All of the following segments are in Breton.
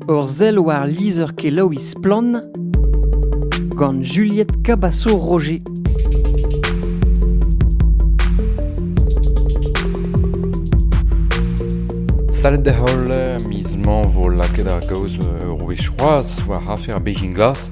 Ur sell war lizher-kelaouiñ Splann! gant Juliette Cabasso-Roger. Salut da holl, miz mañ vo lakaet ar gaoz ur wech c'hoazh war afer Begin Glass.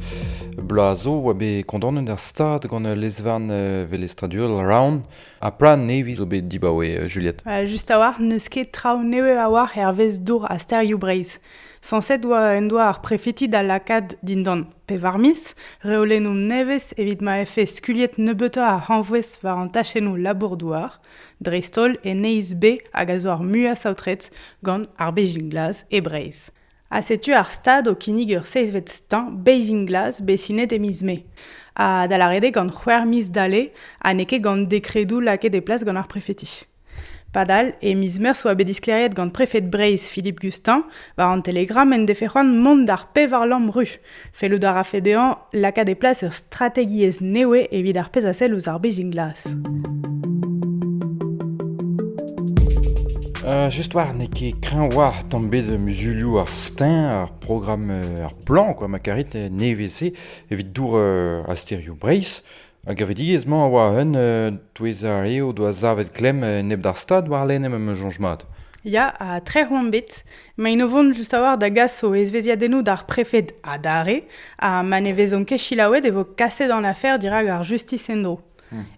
Bloaz zo oa bet kondaonet ar stad gant lezvarn velestradurel Raon Ha plan nevez zo bet dibaoe Juliette. just a-walc'h, n'eus ket traoù nevez a-walc'h hervez dour ha sterioù Breizh. Sañset en doa ar prefeti da lakaat dindan pevar miz reolennoù nevez evit ma vefe skuliet nebeutoc'h a hañvouez war an tachennoù labour-douar, dreist-holl e neizh B hag a zo ar muiañ saotret gant ar Bezhin Glas e Breizh. Ha setu ar stad o kinnig ur seizhvet steuñv Bathing Glass bet sinet e miz Mae, ha da lâret eo gant c'hwec'h miz dale ha n'eo ket gant dekredoù lakaet e plas gant ar prefeti. Padal, e miz Meurzh oa bet disklêriet gant prefed Breizh Philippe Gustin war an Telegram en defe c'hoant mont d'ar pevar lamm ru Fellout a rafe dezhañ lakaat e plas ur strategiezh newe evit ar pezh a sell ouzh ar bezhin glas. Euh, just war, n'eo ket kreñv war tamm bet muzulioù ar stein, ar programm, euh, ar plan, quoi, ma karit, euh, nevez-se, evit dour euh, a sterioù Breizh. Ar gevredigezh-mañ a oa un touez ar re o doa savet klemm enep d'ar Stad warlene ma 'm eus soñj mat. Ya, ha trec'h on bet. Maint o vont just a-walc'h da gas o ezvezhiadennoù d'ar prefed adarre ha ma ne vezont ket selaouet e vo kaset an afer dirak ar justis en-dro.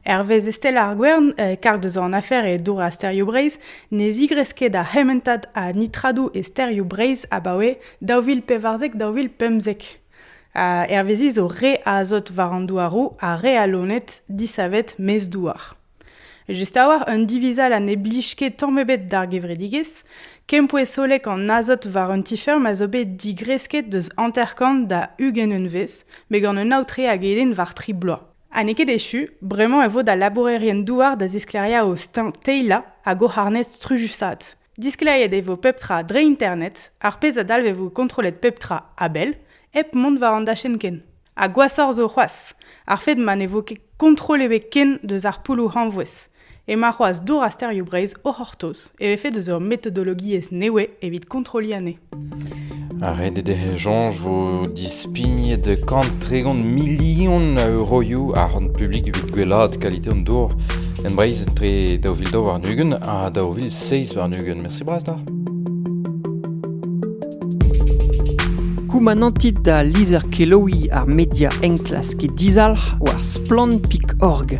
Hervez Estelle ar Gwern, karg deus an afer e dour ha sterioù Breizh, ne zigresk ket ar c'hementad a nitradoù e sterioù Breizh abaoe daou vil pevarzek-daou vil pemzek. Hervezi zo re azot war an douaroù ha re a loened disavet maez-douar. Just a-walc'h un divizall ha ne blij ket tamm ebet d'ar gevredigezh, kempouez hollek an azot war un ti-feurm a zo bet digresket deus hanter-kant da ugent unvezh, met gant un aotre hag eden war tri bloaz. Ha n'eo ket echu, bremañ e vo da labourerien-douar da zisklêriañ o steuñv teilañ hag o c'harned strujusaat. Diskleriet e vo pep tra dre internet, ar pezh a dalvevo kontrollet pep tra a-bell, hep mont war an dachenn ken. Ha gwashoc'h zo c'hoazh, ar fed ma ne vo ket kontrol ebet ken deus ar poulloù hañvouez. Emañ c'hoazh dour a sterioù Breizh o c'hortoz e vefe deus ur metodologiezh nevez evit kontrolliñ anezhe. Renet ec'h esoñj 'vo dispignet kant tregont milion a euroioù ar c'hont publik evit gwellaat kalite an dour en Breizh etre daou vil daou warn-ugent ha daou vil seizh warn-ugent. Mersi bras da. Koumanantit da lizher-kelaouiñ ar media enklask e dizalc'h war splann.org.